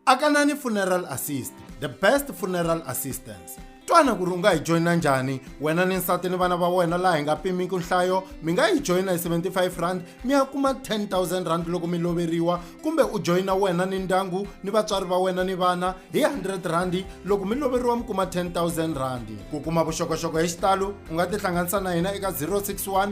Akanani Funeral Assist, the best funeral assistance. Twana ku ri u nga hi joyina njhani wena ni nsati ni vana va wena laha hi nga pimiki nhlayo mi nga yi joyina hi 75 rand mi ya kuma 10000 rand loko mi loveriwa kumbe u joyina wena ni ndyangu ni vatswari va wena ni vana hi 100 rand loko mi loveriwa mi kuma 10000 rand ku kuma vuxokoxoko hi xitalo u nga tihlanganisa na hina eka 061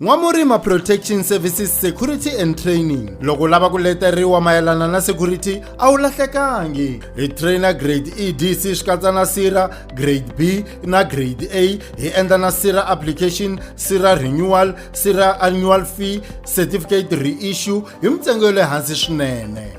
N'wamurima Protection Services Security and Training loko lava ku leteriwa mayelana na security a wu lahlekangi hi trainer grade EDC swi katsa na sira grade B na grade A hi endla na sira application sira renewal sira annual fee certificate reissue hi mintsengo ya le hansi swinene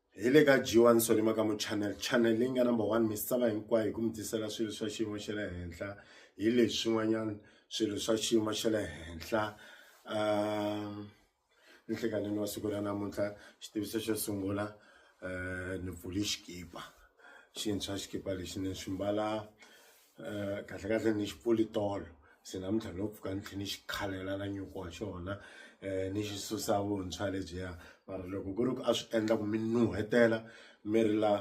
hi le ka G1 Soli Makamu Channel channel leyi nga number one misava hinkwayo hi ku mi tisela swilo swa xiyimo xa le henhla hi leswi swin'wanyana swilo swa xiyimo xa le henhla um nhlekanini wa siku ra namuntlha xitiviso xo sungula um ni pfuli xikipa xintshwa xikipa lexi ni xi mbala Eh, kahle kahle ni xipfuli tolo se namuntlha no pfuka ni tlhe ni xi khalela na nyuku wa xona um ni xi susa vuntshwa lebyiya mara loko ku ri ku a swi endla ku mi nuhetela mi ri la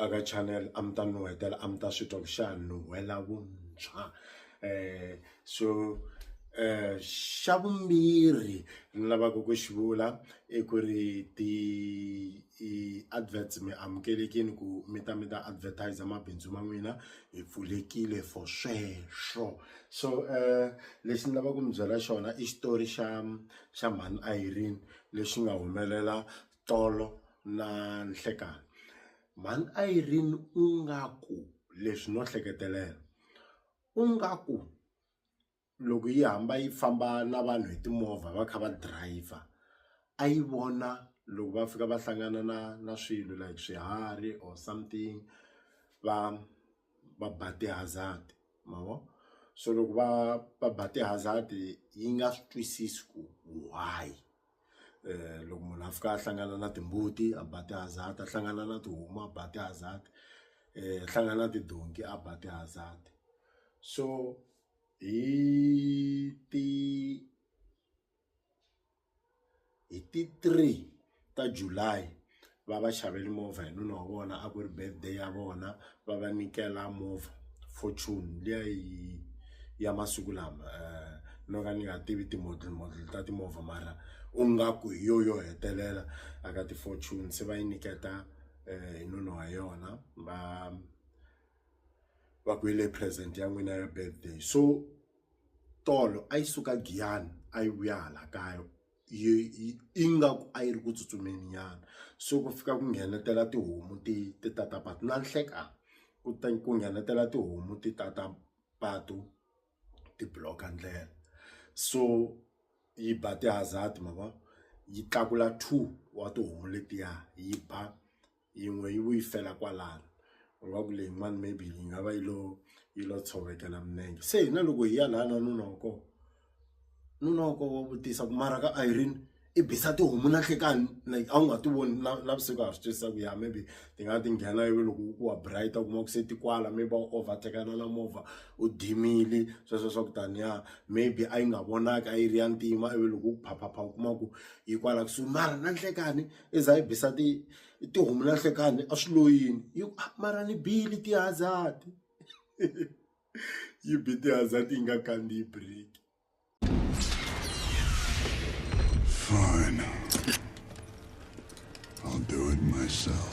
a ka channel a mi ta nuhetela a mi ta swi twa ku xa nuhela vuntshwa um so xa vumbirhi ni lavaka ku xi vula i ku ri ti i adverts mi amukelekile ku mi ta mi ta advertiser mabindzu ma n'wina hi pfulekile for sweswo so lexi ni lavaka ku mi byela xona i xitori xa xa mhani Irene lexi nga humelela tolo na nhlekani mhani Irene u nga ku leswi no hleketelela ku nga ku loko yi hamba yi famba na vanhu hi timovha va kha va driver a yi vona loko va fika va hlangana na na swilo like swiharhi or something va va ba ti-hazard ma vo so loko va va ba ti-hazard yi nga swi twisisi ku why. loko munhu a fika a hlangana na timbuti a ba ti-hazard a hlangana na tihomu a ba ti-hazard a hlangana na tidonki a ba ti-hazard so hi ti hi ti three ta July. va va xaveli movha hi nuna wa vona a ku ri birthday ya vona va va nyikela movha fortune liya yi ya masiku lama no ka ni nga tivi ti model model ta timovha mara u nga ku hi yo yo hetelela a ka ti fortune se va yi nyiketa hi nuna wa yona va va ku hi leyi present ya n'wina ya birthday so tolo a yi suka Giyani a yi vuya hala kaya. ingaku a yi ri ku tsutsumeni nyana so ku fika ku nghenetela tihomu ti ti ta ta patu na nhleka ku ta ku nghenetela tihomu ti ta ta patu ti block ndlela so yi ba ti-hazard ma vo yi tlakula two wa tihomu letiya yi ba. yin'we yi vuyi fela kwalano u nga ku leyin'wani maybe yi nga va yi lo yi lo tshovekela minenge se hina loko hi ya lana nuna wa kona nuna wa kona wa vutisa ku mara ka Irene i bisa tihomu na nhlekani like a wu nga ti voni na navusiku a swi twisisa ku ya maybe ti nga ti nghena ivi loko ku wa bright u kuma ku se ti kwala mi va overtake na na movha u dimile sweswo swa ku tani ya maybe a yi nga vonaki a yi ri ya ntima ivi loko u phapha phapha u kuma ku yi kwala kusuhi mara na nhlekani i za i bisa ti tihomu na nhlekani a swi lo yini hi ku a mara ni bile ti-hazard yi bi ti-hazard yi nga kandziyi break. Fine. I'll do it myself.